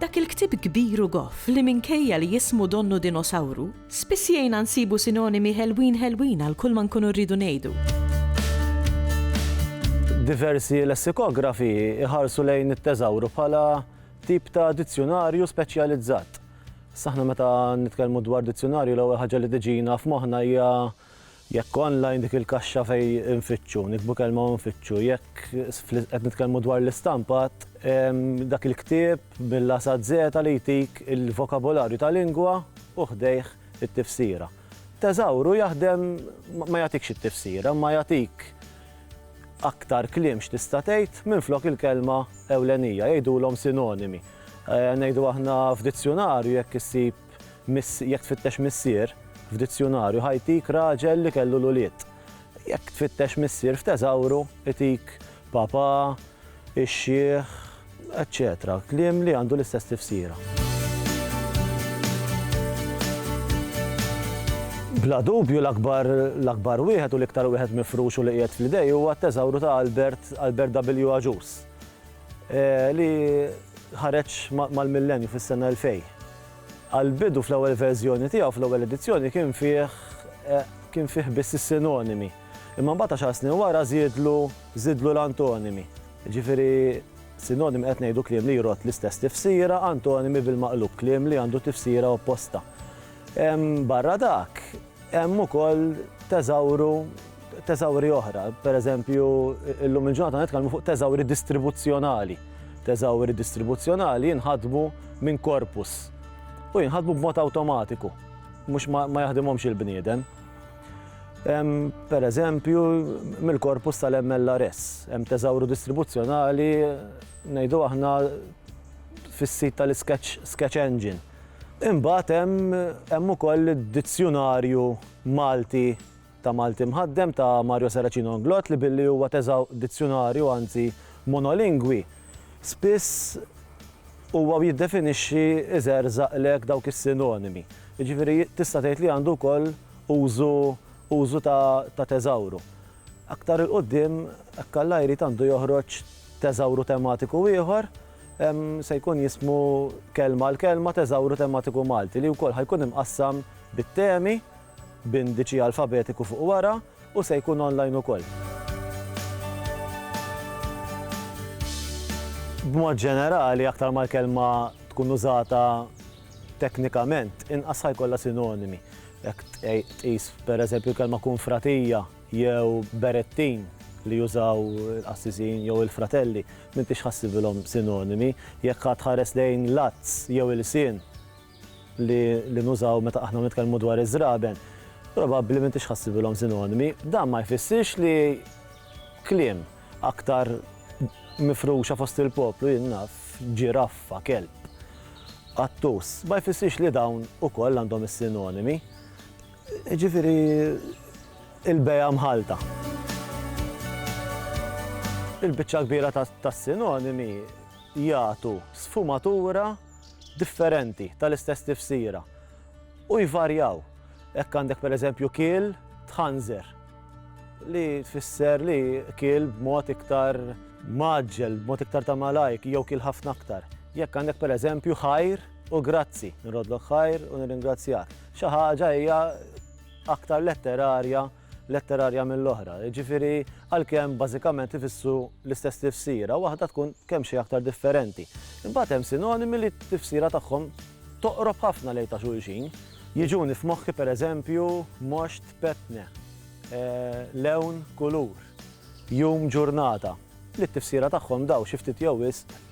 Dak il-ktieb kbir u goff li minkejja li jismu donnu dinosawru, spiss jgħinna nsibu sinonimi ħelwin ħelwin għal kulma nkunu rridu ngħidu. Diversi lessikografi jħarsu lejn it-teżawru bħala tip ta' dizzjunarju speċjalizzat. Saħna meta nitkellmu dwar dizzjunarju l-ewwel ħaġa li tiġina f'moħħna hija Jekk online dik il-kaxxa fejn infittxu, niktbu kelma u nfittxu. Jekk qed nitkellmu dwar l-istampat, hemm dak il-ktieb mill-A sa Z li jtik il-vokabolarju ta' lingwa u ħdejh it-tifsira. Teżawru jaħdem ma jagħtikx it-tifsira imma jagħtik aktar kliem x'tista' tgħid minflok il-kelma ewlenija, jgħidulhom sinonimi. Ngħidu aħna f'dizzjunarju jekk issib Miss, jekk tfittex missier f'dizzjunarju ħa jtik raġel li kellu l-ulied. Jekk tfittex missier f'teżawru itik papà, ix-xiħ, eċċetera kliem li għandu l-istess tifsira. Bla dubju l-akbar l-akbar wieħed u l-iktar wieħed mifrux u li qiegħed fl-idej huwa t-teżawru ta' Albert Albert W. Agius. li ħareġ mal-Millenju fis-sena 2000. Għall-bidu fl-ewwel verżjoni tiegħu, fl-ewwel edizzjoni, kien fih kien fih biss is-sinonimi. Imma mbagħad għaxar snin wara żiedlu żidlu l-antonimi. Jiġifieri sinonimi qed ngħidu kliem li jrodd l-istess tifsira, antonimi bil-maqlub kliem li għandu tifsira opposta. Barra dak, Hemm ukoll teżawru teżawri oħra, per eżempju, illum il-ġurnata nitkellmu fuq teżawri distribuzzjonali. Teżawri distribuzzjonali jinħadmu minn korpus u jinħadmu b'mod awtomatiku, mhux ma, ma jaħdimhomx il-bniedem. Per eżempju, mill-korpus tal-MLRS, hemm teżawru distribuzzjonali ngħidu aħna fis-sit tal-Sketch Sketch Engine. Imbagħad hemm hemm ukoll id-Dizzjunarju Malti ta' Malti Mħaddem ta' Mario Saracino Inglott li billi huwa teżaw dizzjunarju anzi monolingwi, spiss huwa u jiddefinixxi iżerżaqlek dawk is-sinonimi. Jiġifieri tista' tgħid li għandu wkoll użu użu ta' ta' teżawru. Aktar 'il quddiem hekk Alla jrid għandu joħroġ teżawru tematiku ieħor se jkun jismu Kelma għal Kelma, Teżawru Tematiku Malti, li wkoll ħa jkun imqassam bit-temi, b'indiċi alfabetiku fuq wara, u se jkun online ukoll. B'mod ġenerali, aktar ma l-kelma tkun użata teknikament, inqas ħa jkollha sinonimi. Jekk tqis, pereżempju, l-kelma kunfratija, jew berettin li jużaw il-qassisin jew il-fratelli, m'intix ħassibilhom sinonimi. Jekk għad tħares lejn l-għadz jew il-lsien li li nużaw meta aħna nitkellmu dwar iż-żraben, probabbli m'intix ħassibilhom sinonimi. Dan ma jfissirx li kliem aktar mifruxa fost il-poplu, jien naf, ġiraffa, kelb, qattus, ma jfissirx li dawn ukoll għandhom is-sinonimi. Jiġifieri l-bejgħa mħallta. Il-biċċa l-kbira tas-sinonimi jagħtu sfumatura differenti tal-istess tifsira u jvarjaw. Hekk għandek pereżempju kiel tħanżer li tfisser li kiel b'mod iktar mgħaġġel, b'mod iktar ta' malajr jew kiel ħafna aktar. Jekk għandek pereżempju ħajr u grazzi, nrodlok ħajr u nirringrazzjak. Xi ħaġa hija aktar letterarja, letterarja mill-oħra. Jiġifieri għalkemm bażikament ifissru l-istess tifsira, waħda tkun kemm xejn aktar differenti. Imbagħad hemm sinonimi li t-tifsira tagħhom toqrob ħafna lejn ta' xulxin. Jiġuni f'moħħi pereżempju moxt, petne, lewn, kulur, jum, ġurnata, li t-tifsira tagħhom dawn xi ftit jew wisq